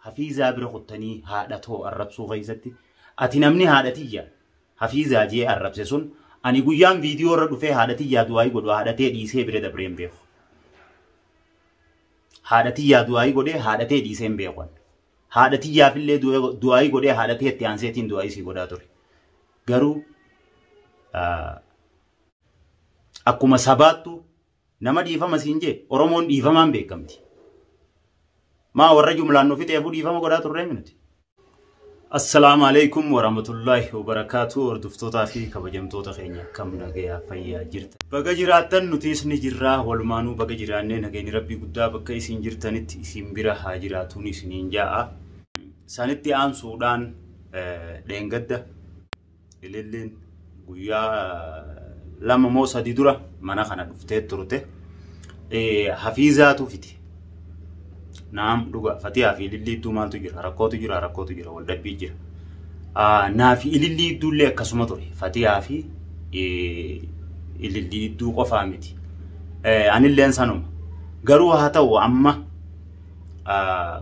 Hafiizaa bira kuttanii haadha too arrabsuu keessatti ati namni haadha tiyya hafiizaa jee arrabse sun ani guyyaan viidiyoo irra dhufee haadha tiyyaa du'aayii godhu haadha tee dhiisee bira dabreen beeku. Haadha tiyyaa du'aayii godhee haadha tee dhiiseen beeku. Haadha tiyyaafillee du'aayii godhee haadha tee itti aanseetiin du'aayii sii godhaa ture. Garuu akkuma sabaattu Nama dhiifama siin jee Oromoon dhiifamaan beekamti. Maa warra jumlaan nu fixeefuu dhiifama godhaa turree minuti. Assalaamu alaikum warahmatullaahi wabarakaatu hordoftootaa fi kabajamtoota keenya akkam nagayaa fayyaa jirta. Baga jiraattan nutiis ni jirraa walumaanuu baga jiraannee nageenyi rabbii guddaa bakka isin jirtanitti isin bira haa jiraatuun isiniin jaa'a. Sanitti aansuudhaan dheengadda Ililliin guyyaa lama moo sadii dura mana kana dhuftee turte. Hafiizaatu fiti. Naam dhugaa fatiyaa fi ilillii idduu maaltu jira rakkootu jira rakkootu jira wal dhabbii jira. Naa fi ilillii idduullee akkasuma ture fatiyaa fi ilillii idduu qofaa miti. Anilleen sanuma garuu haa ta'u amma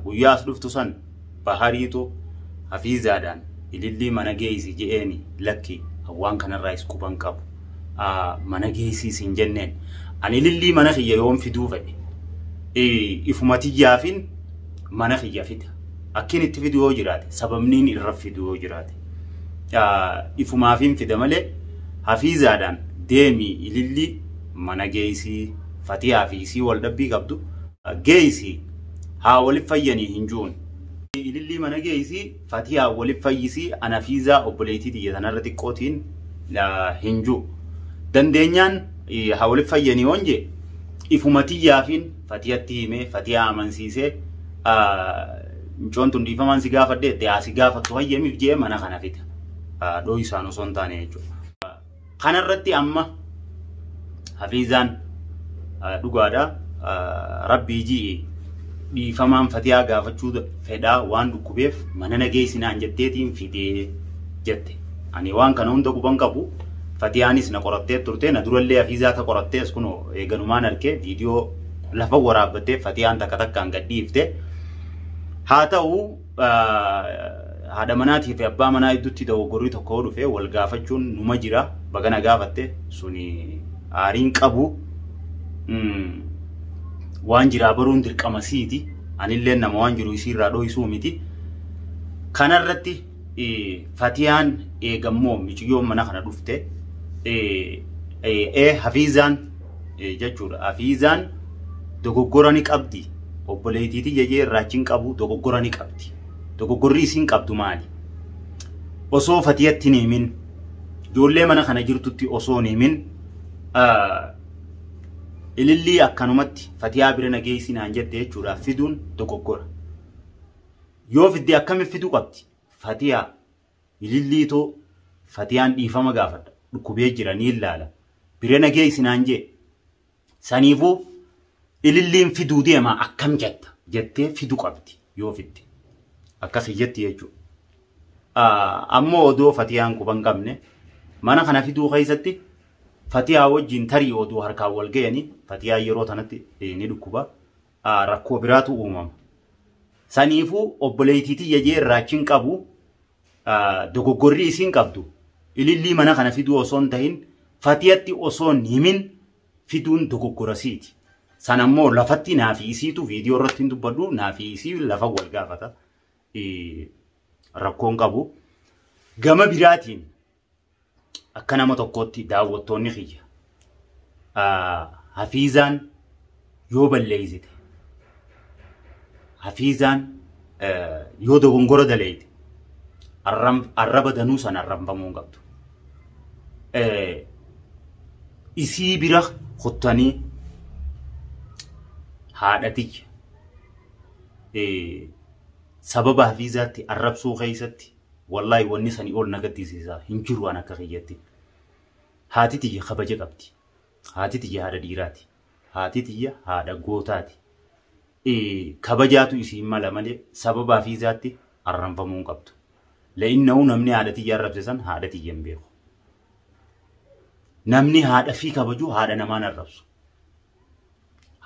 guyyaa as dhuftu san bahariitu hafiizaadhaan ilillii mana geeysi je'eeni lakki waan kanarraa is quban qabu mana geeysii sin jenneen ani ilillii mana kiyya yoon fiduu fedhe ifuma tiyyaafin mana kiyya fida akkin itti fidu yoo jiraate sababniin irra fidu yoo jiraate ifumaafin fida malee hafiizaadhaan deemii ilillii mana geeysii fatiyaa fi isii wal dhabbii qabdu Geeysi haa wali fayyani hin juun. Ilillii mana geeysi fatiyaa wali fayyisi anafiizaa obboleeytii tiyya tanarra xiqqootiin hin ju. Dandeenyaan haa wali fayyani yoon je ifuma tiyyaafiin fatiyatti hime fatiyaa amansiise mcoon tun dhiifamaan si gaafadhe itti haa si gaafattu hayyamiif jee mana kana fida. Dhooysaan osoo hin taane jechuudha. Kana irratti amma Hafiizaan ah, dhugaadha ah, rabbii ji'i dhiifamaan fatiyaa gaafachuu da- fedhaa waan dhukkubeef mana nageessi naan jetteetiin fidee jette. Ani waan kana hunda quban qabu fatiyaanis na qorattee turte na durallee Hafiizaa ta qorattee as kunoo eeganumaan argee viidiyoo lafa waraabbattee fatiyaan takka takkaan gadhiifte. Haa ta'u haadha manaatii fi abbaa manaa gidduutti dogoggorri tokko yoo dhufe wal gaafachuun numa jira baga na gaafatte suni aariin qabu mm, waan jiraa baruun dirqama siiti anillee nama waan jiru isiirraa dhohisuu miti kanarratti eh, fatiyaan eegammoo miciyyoon mana kana dhufte eh, eh, eh, hafiizaan jechuudha. Afiizaan dogoggora ni qabdi. Obboleettii tiyya jee irraachi hin qabu dogoggora ni qabdi. Dogoggorri isiin qabdu maali? Osoo fatiyatti hin himin ijoollee mana kana jirtutti osoo hin himin ilillii akkanumatti fatiyaa bira nageessi naan jette jechuudha fiduun dogoggora. Yoo fidde akkamitti fiduu qabdi? Fatiyaa Ilillii too fatiyaan dhiifama gaafadha dhukkubee jira niin laala bira na geessi naan jee saniifuu ililliin fiduu deema akkam jetta jettee fidu qabdi yoo fidde akkasi jetti jechuudha. Ammoo odoo fatiyaan quba hin qabne mana kana fiduu keessatti fatiyaa wajjin tarii oduu harkaan wal ga'anii fatiyaan yeroo tanatti ni dhukkuba. ah, rakkoo biraatu uumama. Saniifuu obboleettii tiyya jee irraachi hin qabu ah, dogoggorrii isiin qabdu ilillii mana kana fiduu osoo hin tahin fatiyatti osoo hin himin fiduun dogoggorasiiti. San ammoo lafatti naa fi isiitu viidiyoo irratti hin dubbadhu naa fi isii lafa wal gaafata. Eh, Rakkoon qabu. Gama biraatiin akka nama tokkootti daawwattoonni kiyya hafiizaan yoo balleeysite hafiizaan yoo dogongora daleeyte arraba danuu san arrabamuu hin qabdu. Isii bira kuttanii haadha tiyya sababa hafiizaatti arrabsuu keessatti Wallahi wanni sani ol na gaddisiisa hin jiru an akka kiyyatti. Haati tiyya kabaja qabdi. Haati tiyya haadha dhiiraati. Haati tiyya haadha gootaati. Ee, kabajaatu isiin mala malee sababa hafiizaatti arranfamuu hin qabdu. La'innahu namni haadha tiyya arrabse san haadha tiyya hin beeku. Namni haadha fi kabaju haadha namaan arrabsu.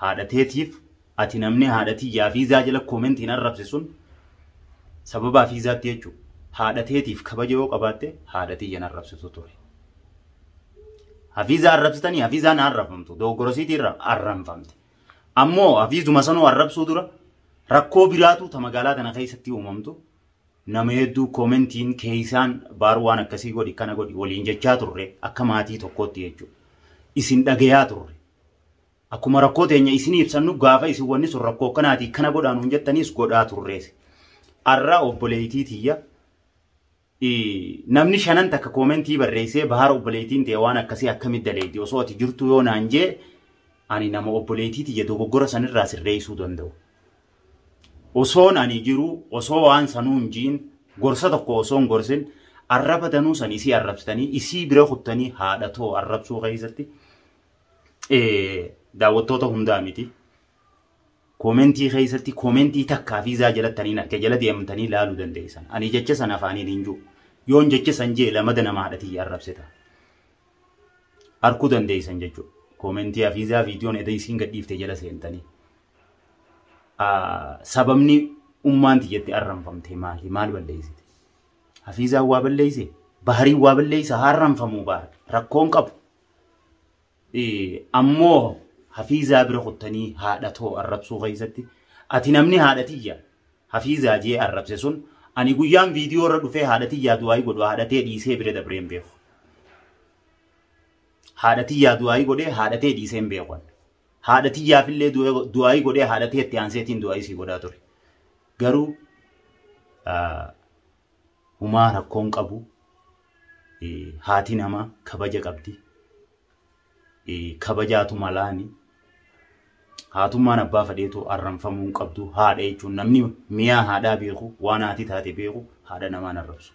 haadha teetiif ati namni haadha tiyyaa fiizaa jala koomentiin arrabse sun sababaa fiizaatti jechuudha. Haadha teetiif kabaja yoo qabaatte haadha tiyyan arrabsitu ture. Hafiizaa arrabsitanii hafiizaan arrabfamtu dogoggorasiitii irra arrabfamte. Ammoo hafiizuma sanuu arrabsuu dura rakkoo biraatu ta magaalaa tana keessatti uumamtu Nama hedduu commentiin keessaan baar waan akkasii godhi kana godhi waliin jechaa turre akka maatii tokkootti jechuudha. Isin dhagayaa turre. Akkuma rakkoo teenya isin ibsannu gaafa isin wanni sun rakkoo kanaatii kana godhaa nuun jettaniis godhaa turrees. Arra obboleeytii tiyya namni shanan takka koomentii barreessee bahaara obboleeytiin ta'e waan akkasii akkamitti daleeyti osoo ati jirtu yoo naan jee ani nama obboleeytii tiyya dogoggora sanirraa sirreessuu danda'u. Osoon ani jiruu osoo waan sanuu hin jiin gorsa tokko osoo hin gorsin arraba danuu san isii arrabsitanii isii bira kuttanii haadha too arrabsuu keessatti daawwattoota hundaa miti. Koomentii keessatti koomentii takkaa fi izaa jalattaniin arke jala deemtanii laaluu dandeessan. Ani jecha san afaaniin hin jiru. Yoon jecha san jee lamada nama haadhatii arrabsita. Arkuu dandeessan jechuudha. Koomentii hafiizaa viidiyoon edda isiin gadhiifte jala seentanii. sababni ummaanti jette arranfamte maali? Maal balleessite? Hafiizaan waa balleesse? Bahariin waa balleessa harranfamuu baara. Rakkoon qabu. Ammoo hafiizaa bira kuttanii haadha too arrabsuu keessatti ati namni haadha tiyya hafiizaa jee arrabse sun ani guyyaan viidiyoo irra dhufee haadha tiyyaa du'aayii godhu haadha tee dhiisee bira dabreen beeku. Haadha tiyyaa du'aayii godhee haadha tee dhiiseen beeku. Haadha tiyyaafillee du'aayii godhee haadha tiyya itti aanseetiin du'aayii sii godhaa ture. Garuu humaa rakkoon qabu haati namaa kabaja qabdi. Kabajaatu malaani. Haatummaan abbaa fadheetu arranfamuu hin qabdu haadha jechuun namni miyaa haadhaa beeku waan haati taate beeku haadha namaan arrabsu.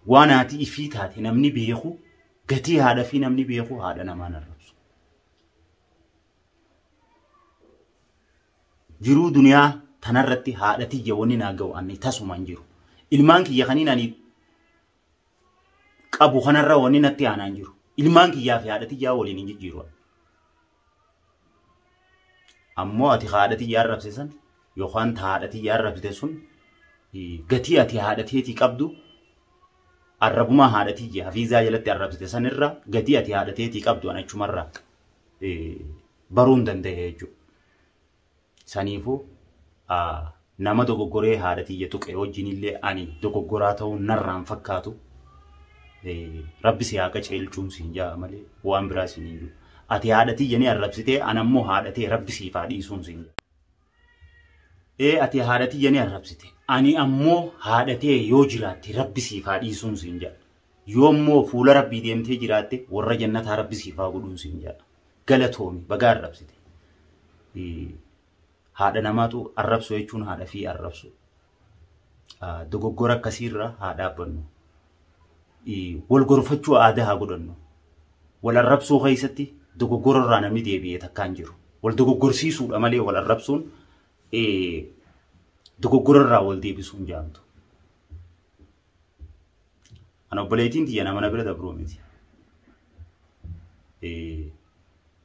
Waan haati ifii taate namni beeku Gatii haadhafii namni beeku haadha namaan arrabsu. Jiruu duniyaa tanarratti haadha tiyya wanni naa ga'u anni tasuma hin jiru. Ilmaan kiyya kaniin ani qabu kanarra wanni natti aanaa hin jiru. Ilmaan kiyyaa fi haadha tiyyaa waliin hin jijjiiru. Ammoo ati haadha tiyya arrabse san yookaan ta haadha tiyya arrabsite sun gatii ati haadha teetii qabdu arrabumaa haadha tiyya hafiizaa jalatti arrabsite san irraa gatii ati haadha teetii qabdu an achumarraa baruun danda'e jechuudha. Saniifuu nama dogoggoree haadha tiyya tuqe wajjinillee ani dogoggoraa ta'uun narraan fakkaatu. Rabbi si haa qaceelchuun siin ja'a malee waan biraa siin hin jiru. Ati haadha tiyya ni arrabsitee ana immoo haadha tee rabbi siif haa dhiisuun siin ja'a. Ee ati haadha tiyya ni arrabsite ani ammoo haadha tee yoo jiraatte rabbi siif haa dhiisuun siin ja'a. Yoo immoo fuula rabbii deemtee jiraatte warra jannataa rabbi siif haa godhuun siin ja'a. galatoomi bagaa arrabsite haadha namaatu arrabsu jechuun haadha fi arrabsu dogoggora akkasiirra haa dhaabbannu wal gorfachuu aadaa haa godhannu wal arrabsuu keessatti dogoggora irraa namni deebi'ee takkaan jiru wal dogoggorsiisuudha malee wal arrabsuun dogoggora irraa wal deebisuun jaamtu Ana obboleettiin tiyya nama na bira dabruu miti.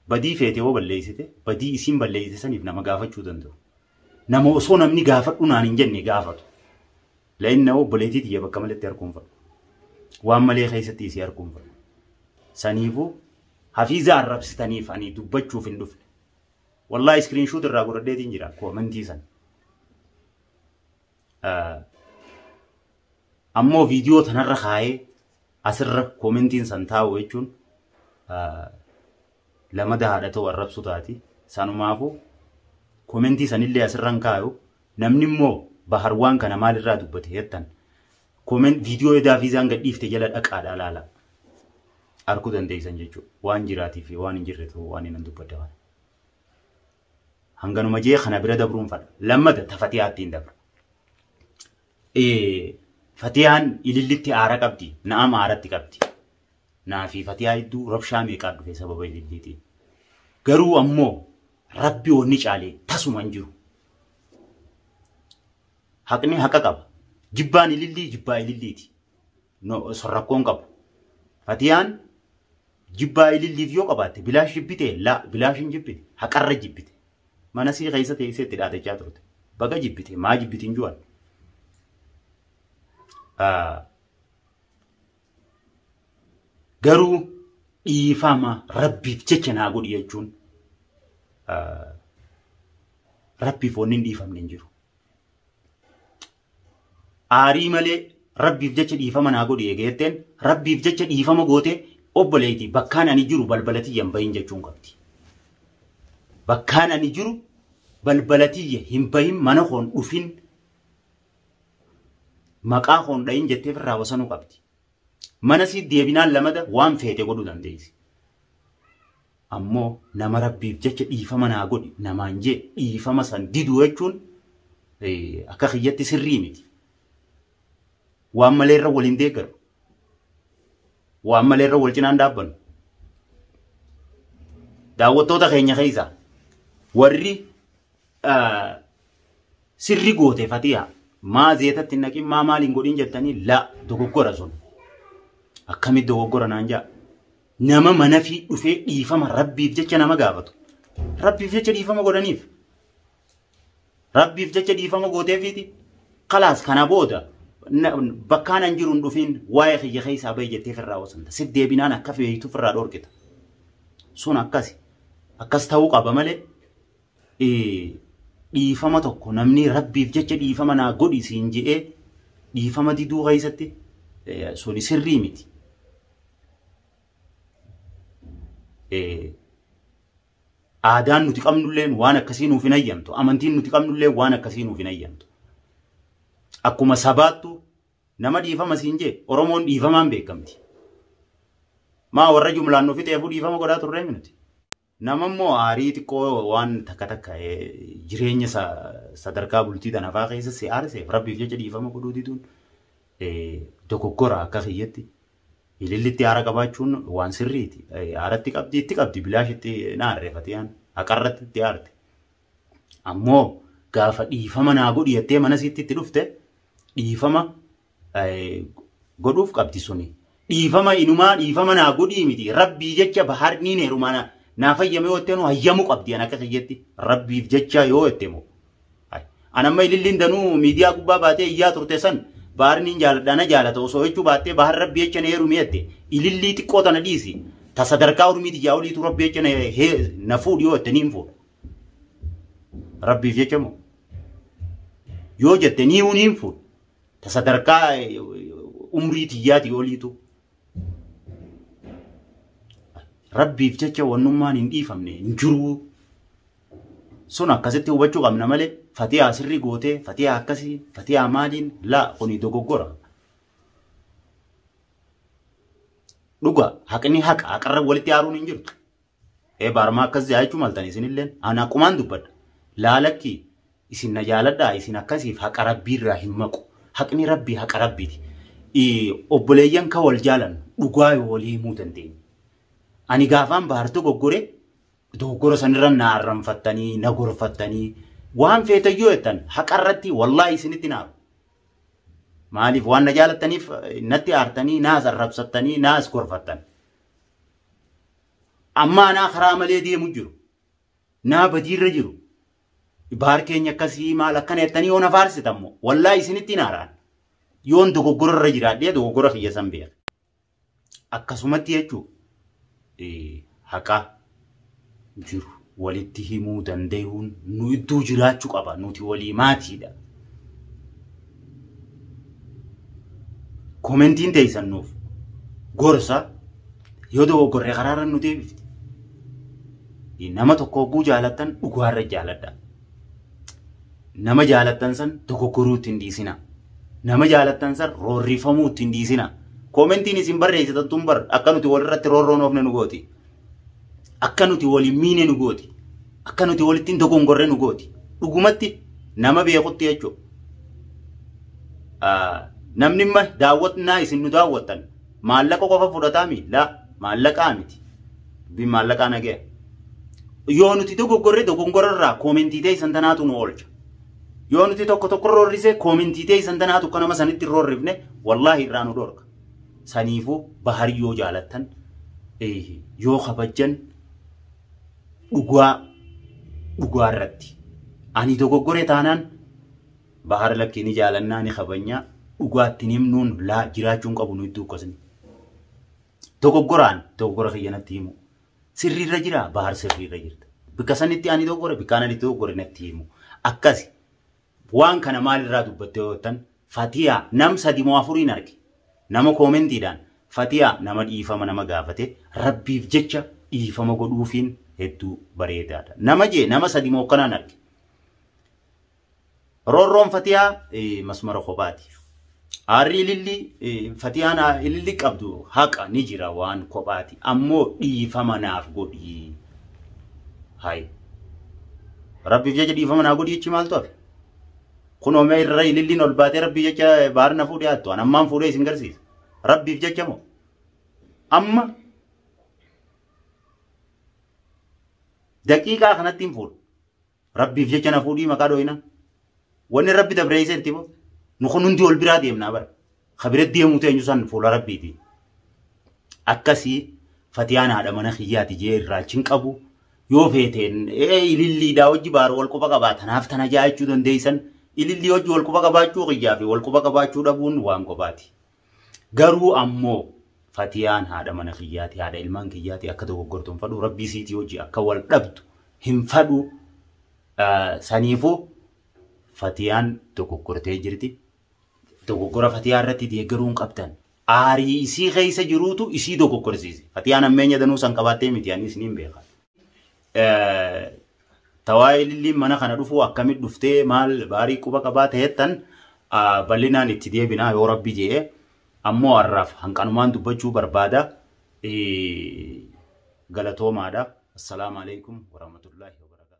Badii feete yoo balleessite badii isiin balleessite saniif nama gaafachuu danda'u. Nama osoo namni gaafadhu naan hin jenne gaafatu. La'inna obboleettii tiyya bakka maletti harkuun fadhu. Waan malee keessatti isii harkuun fadhu. Saniifuu hafiiza arrabsitaniif ani dubbachuuf hin dhufne. Wallaahi iskiriinshuut irraa godhadheetiin jira koomentii sana. ammoo viidiyoo tanarra kaayee asirra koomentiin san taa'u jechuun lamada haadha ta'u arrabsu taati. Sanumaafu koomentii sanillee asirra hin kaayu. Namni immoo bahar waan kana maalirraa dubbate jettan kooment viidiyoo edaa viizaan gadhiifte jala dhaqaadha laala. Arkuu dandeessan jechuudha. Waan jiraatii fi waan hin jirre ta'uu waan inni dubbadda kana. Hanganuma jee kana bira dabruun fadha. Lammata ta Fatiyaattiin dabra. Eh, Fatiyaan ilillitti aara qabdi. Na'am aaratti qabdi. Naa fi Fatiyaa hedduu rabshaa meeqaa dhufe sababa ililliitiin. Garuu ammoo rabbi wanni caalee tasuma hin jiru. Haqni haqa qaba. Jibbaan ilillii jibbaa ililliiti. No, so rakkoon qabu. Fatiyaan jibbaa ililliif yoo qabaatte bilaash jibbite la bilaash hin jibbine haqarra jibbite. Mana sii keessa teessee itti dhaadachaa turte. Baga jibbite maa jibbiti hin ju'an. Garuu dhiifama rabbiif jecha naa godhi jechuun rabbiif wanni hin dhiifamne hin jiru. aarii malee rabbiif jecha dhiifama naa godhi eega jetteen rabbiif jecha dhiifama goote obboleeyti bakkaan ani jiru balbala tiyya hin bahin jechuun qabdi. Bakkaan ani jiru balbala tiyya hin bahin mana koon dhufin maqaa koon dhahin jettee firraa wasanuu qabdi. Mana siit deebinaan lamada waan feete godhuu dandeessi. Ammoo nama rabbiif jecha dhiifama naa godhi namaan jee dhiifama san diduu jechuun akka kiyyatti sirrii miti. Waan malee irra waliin deeggaru. Waan malee irra wal cinaan dhaabbannu. Daawwattoota keenya keessaa warri sirri goote fatiyaa maa zeetatti naqin maa maaliin godhin jettanii la dogoggora sun akkamitti dogoggora naan jaa nama mana fi dhufee dhiifama rabbiif jecha nama gaafatu rabbiif jecha dhiifama godhaniif rabbiif jecha dhiifama gooteefiiti kalaas kana booda bakkaan an jiruun dhufiin waa'ee kiyya keessaa bahi jettee firraa wasanta si deebinaan akka feeyitu firraa dhorkita sun akkasi akkas ta'uu qaba malee dhiifama tokko namni rabbiif jecha dhiifama naa godhi siin je'ee dhiifama diduu keessatti suni sirrii miti. Aadaan nuti qabnulleen waan akkasii nuuf hin hayyamtu. Amantiin nuti qabnulleen waan akkasii nuuf hin hayyamtu. Akkuma sabaattu nama dhiifama siin jee Oromoon dhiifamaan beekamti. Maa warra jumlaan nuuf fixeefuu dhiifama godhaa turree nuti. Nama immoo aarii xiqqoo waan takka takka jireenya sadarkaa bultii tanafaa keessa si aarseef rabbiif jecha dhiifama godhuu diduun dogoggora akka kiyyatti ilillitti aara qabaachuun waan sirriiti. Aaratti qabdi itti qabdi bilaash itti naarreefate yaan haqarratti itti aarte. Ammoo gaafa dhiifama naa godhi jettee mana siitti itti dhufte dhiifama godhuuf qabdi suni. Dhiifama inumaa dhiifama naa godhii miti. Rabbii jecha baharniin heerumaa naa naa fayyame yoo jettee nu hayyamu qabdi an akka kiyyetti. Rabbiif jecha yoo jette moo. An amma ililliin danuu miidiyaa gubbaa baatee iyyaa turte san baharniin jaaladha na jaalata osoo jechuu baattee bahar rabbi jecha na heerumi jette. Ilillii xiqqoo tana dhiisi. Ta sadarkaa urmii tiyyaa oliitu rabbi jecha na fuudhi yoo jette niin fuudha. Rabbiif jecha moo. Yoo jette nii uniin fuudha. ta sadarkaa umrii tiyyaati oliitu rabbiif jecha wannummaan hin dhiifamne hin jiruu sun akkasitti hubachuu qabna malee fatiyaa sirrii gootee fatiyaa akkasii fatiyaa maaliin laa kuni dogoggora. Dhuga haqni haqa haqarra walitti aaruun hin jirtu. ee baarmaa akkas jaa jechuu maltan isinilleen ani akkumaan dubbadha laalakki isin na jaaladhaa isin akkasiif haqa rabbii irraa hin maqu haqni rabbii haqa rabbiiti obboleeyyan ka wal jaalannu dhugaa yoo walii himuu dandeenya ani gaafaan baar dogoggore dogoggora sanirra na arranfattanii na gorfattanii waan feetayyoo jettan haqa irratti wallaahi isinitti naaru maaliif waan na jaalattaniif natti aartanii naas arrabsattanii naas gorfattan Amma anaa karaa malee deemu jiru. Naa badiirra jiru. Baar keenya akkasii maal akkana jettanii yoo na faarsitan moo wallaahi isinitti hin haaraan. Yoon dogoggora irra jiraadhee dogoggora kiyya san beeka. Akkasumatti jechuu haqaa jiru. walitti himuu dandayuun nu idduu jiraachu qaba nuti walii maatiidha. Komentiin teeysan nuuf gorsa yoo dogoggorre karaarra nu deebifti. Nama tokko hogguu jaalattan dhugaarra jaaladha. Nama jaalattan san dogoggoruu ittiin dhiisina. Nama jaalattan san roorrifamuu ittiin dhiisina. Komentiin isin barreessitan tun bar akka nuti walirratti roorroon oofne nu gooti. Akka nuti wal hin miine nu gooti. Akka nuti walitti hin dogongorre nu gooti. Dhugumatti nama beekutti jechuudha. Namni imma daawwatnaa isin nu daawwattan maallaqa qofa fudhataa mi? Laa maallaqaa miti. Dubbiin maallaqaa nagaya. Yoo nuti dogoggorre dogongorarraa koomentii ta'e isan tanaatu nu oolcha. Yoo nuti tokko tokko roorrise koomentii ta'e isan tanaatu akka nama sanitti hin roorrifne wallaahi irraa nu dhorka. Saniifuu Bahar yoo jaalattan yoo kabajjan dhugaa dhugaa irratti ani dogoggore taanaan Bahar lakkii ni jaalannaa ni kabajnaa dhugaatti hin himnuun laa jiraachuun qabu nu iddoo akkasni. Dogoggoraan dogoggora kiyya natti himu. Sirriirra jira Bahar sirriirra jirta. Bikka sanitti ani dogoggore bikkaan ani dogoggore natti himu. Akkasi. Waan kana maal irraa dubbatte yoo jettan Fatiyaa nam sadi moo afuriin arge. Nama koomentiidhaan Fatiyaa nama dhiifama nama gaafate rabbiif jecha dhiifama godhuufiin hedduu bareedaadha. Nama jee nama sadi moo akkanaan arge. Roorroon Fatiyaa masmara kophaati. Aarri ililli fatiyaan ililli qabdu haqa ni jira waan kophaati ammoo dhiifama naaf godhi. Hay. Rabbiif jecha dhiifama naa godhi jechi maaltu hafe? Kun oomee irra ililliin ol baatee rabbii jecha baarna fuudhee hattu. An ammaan fuudhee isin garsiisa. Rabbiif jecha moo? Amma daqiiqaa kanatti hin fuudhu. Rabbiif jecha na fuudhii maqaa dhooyina. Wanni rabbi dabreessee itti boo. Nu kun hundi wal biraa deemnaa bara. Ka bira deemuu teenyu san fuula rabbiiti. Akkasii fatiyaan haadha mana kiyyaati jee irraalchin qabu. Yoo feeteen ililliidhaa hojii baar wal quba qabaa tanaaf tana jaachuu dandeessan ilillii hojii wal quba qabaachuu kiyyaa fi wal quba qabaachuu dhabuun waan qobaati. Garuu ammoo Fatiyaan haadha mana kiyyaati, haadha ilmaan kiyyaati akka dogoggortu hin fadhu, rabbii siitii hojii akka wal dhabdu hin fadhu. Saniifuu Fatiyaan dogoggortee jirti. Dogoggora Fatiyaa irratti deeggaruu hin qabdan. Aarii isii keessa jiruutu isii dogoggorsiise. Fatiyaan ammeenya danuu san qabaattee miti anis niin beeka. Tawaayee lilliin mana kana dhufuu akkamit dhuftee maal baarii quba qabaa ta'ettan bal'inaan itti deebinaa yoo rabbi je'e ammoo har'aaf hanqanumaan dubbachuu barbaada galatoomaadha. Assalaamu alaikum warahmatullahi wabarakatuh.